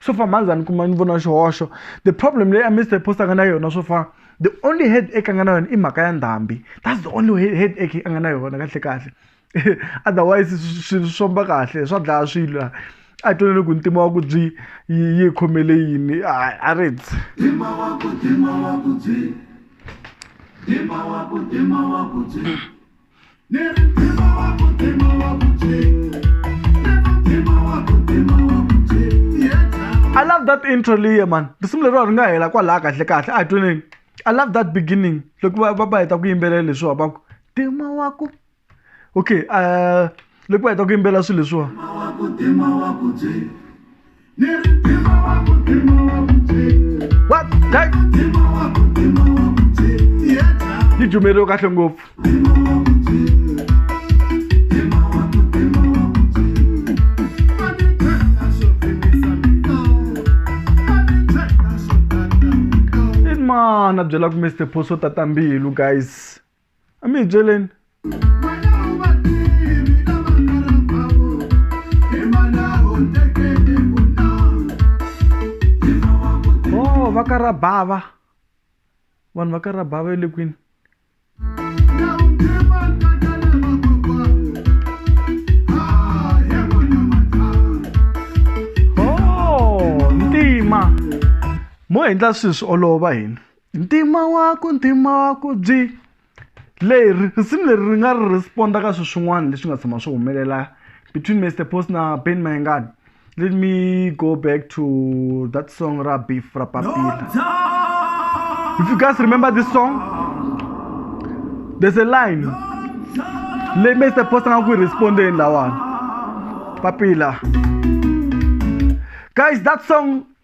swo fa mhandza ni kuma ni vona xihoxo the problem leyi a mister post a nga na yona swo fa the only head eka a nga na yona i mhaka ya ndhambi that's the only head eka a nga na yona kahle kahle otherwise swilo swi famba kahle swa dlaya swilo laha a hi twanele ku ntima wa ku byi yi khomele yini a ri dzi I love that intro leyi man risimu leriwa ri nga hela kwalaha kahle kahle a hi tweneni I love that beginning loko va va va heta ku yimbelela leswiwa va ku tima wa ku okay uh loko va heta ku yimbelela swilo leswiwa yi jumerile kahle ngopfu mana byela ku mr poso tata mbilu guys a mi hi byeleni oh va ka ra bava vanhu va ka ra bava le kwini oh ntima mo endla swilo swi olova hina Ntima wa ku ntima wa ku byi leri risimu leri ri nga ri respond-a ka swilo swin'wana leswi nga tshama swi humelela between Mister Post na Benny Mayengani let me go back to that song ra beef ra papila if you guys remember this song there's a line leyi Mister Post a nga ku yi respond-eni lawani papila guys that song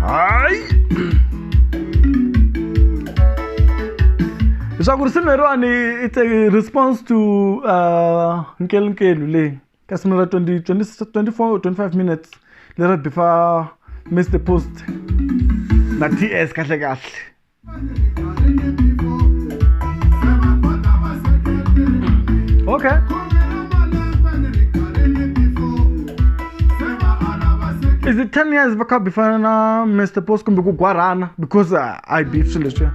hayi leswaku risimu leriwani it's a response to uh, nkelunkelu leyi ka simu ra 20, 20, 24 25 minutes lera bifa mr post na ts kahle kahle is it 10 years va kha bifana na mr pos kumbe ku gwarhana because uh, i beef swilo leswiya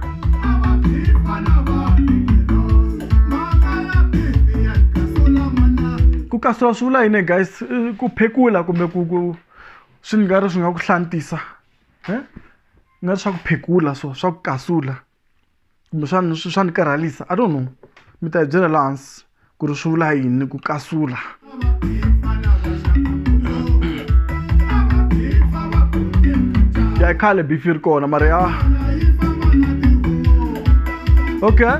ku kasula swi vula yini guys ku phekula kumbe ku ku swi nga ri swi nga ku hlantisa na swa ku phekula so swa ku kasula kumbexana swi swa ni karhalisa i don't know mi ta hi byela la hansi ku ri swi vula yini ku kasula ya i khale beef yi ri kona mara ya okay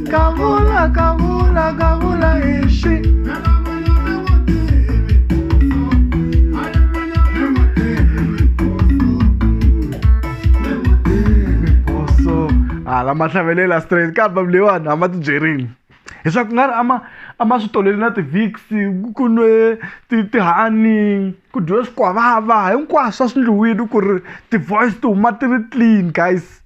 Kavula, kavula, kavula, kavula, ishi. hala ma hlavelela straight ka album leyiwani a ma ti byerile leswaku nga ri ama a ma swi toleli na ti-vix ku nwe tihani ku dyiwe swikwavava hinkwaswo a swi ndliwile ku ri ti-voice ti huma ti ri clean guys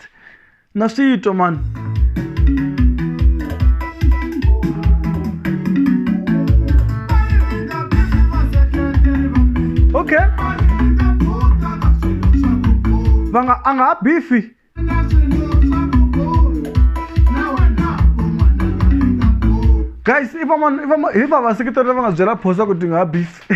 Christ. Na swi twa mani. Okay. Va nga a nga ha bifi. Guys, i va mani i va ma hi va vaseketeri lava nga byela phosa ku ti nga ha bifi.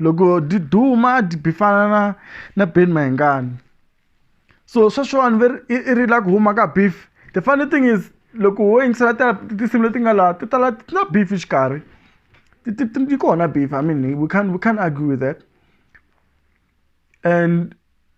loko di duma a di fana na na Benny Mayengani so sweswiwani ve ri i i ri la ku huma ka beef the funny thing is loko wo yingisela ta tinsimu leti nga laha ti tala ti na beef xikarhi ti ti ti yi kona beef I mean we can't we can't argue with that and.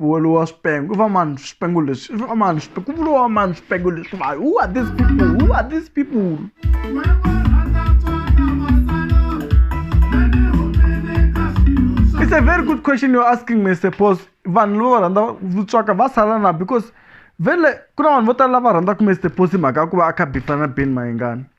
Vuriwa swipengo va mani swipengo leswi va mani swipengo ku vuriwa mani swipengo leswi va who are these people who are these people it's a very good question you're asking me suppose vanhu lava rhandza vutswaka va sala na because vele ku na vanhu vo tala lava rhandzaka mr posi mhaka ya ku va a kha bifana ben mayengani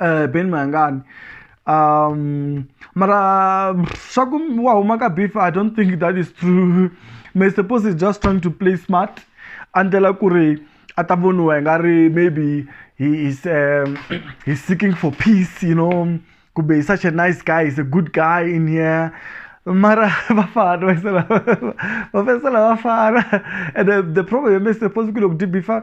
Benny Mayengani um mara swa ku wa huma ka beef i don't think that is true may suppose is just trying to play smart a ndlela ku ri a ta voniwa hi nga ri maybe he is um, he's seeking for peace you know kumbe he's such a nice guy he's a good guy in here mara vafana vafesela vafana and the, the problem is suppose ku loko dibifa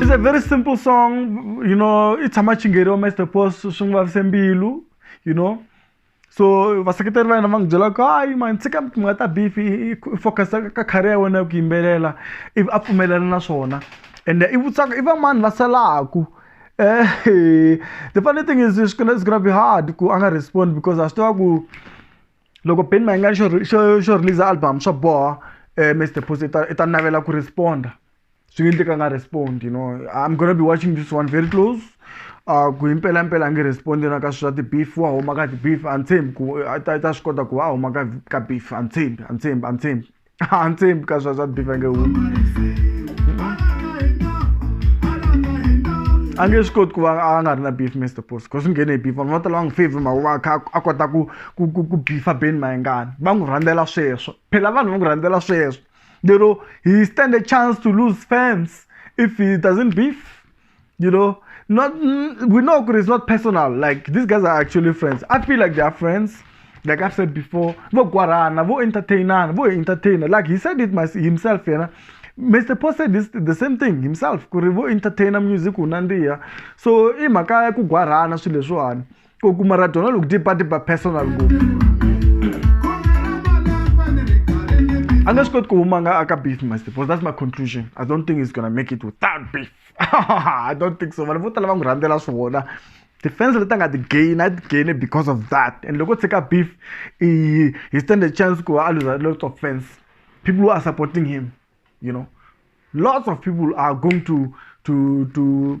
It's a very simple song, you know, it's a matching area, Mr. Post, Shungwa Sembilu, you know. so vaseketeri va hina va n'wi byela ku hayi mani tshika mi nga ta beef focus ka career ya wena ya ku yimbelela ivi a pfumelela na swona and i vutsaka i vamani va salaku the funny thing is it's gonna, it's gonna be hard ku a nga respond because a swi tiva ku loko Ben Mayengani xo xo xo release album swa boha Miss The Post i ta i ta navela ku respond-a swi nge endleki a nga respond you know I'm gonna be watching this one very close ku hi mpelampela a nge respond na ka swi swa ti-beef wa huma ka ti-beef a ni tshembi ku a ta a ta swi kota ku va a huma ka ka beef a ni tshembi a ni tshembi a ni tshembi. hansi ka swa swa bifa nge hu a nge swi koti ku va a nga ri na beef mr post because swi nghene hi beef vanhu va tala va n'wi favor mhaka va kha a kota ku ku ku ku bifa ben mayengani va n'wi rhandzela sweswo phela vanhu va n'wi rhandzela sweswo lero he stand a chance to lose fans if he doesn't beef you know not we know it's not personal like these guys are actually friends i feel like they are friends like i've said before vo gwarana vo entertainana vo entertainer like he said it himself you know Mr. Paul said this, the same thing himself ku ri vo entertainer music unandiya so i mhaka ya ku gwarhana swilo leswiwani ko ku maradona loko tipati ba personal ngopfu a nga swi koti ku huma nga aka beef must because that's my conclusion i don't think he's gonna make it without beef i don't think so vanhu vo tala va n'wi rhandzela swona defense leti a nga ti gain a ti gaine because of that and loko tshika beef he stand a chance ku a luza lots of fans people who are supporting him you know lots of people are going to to to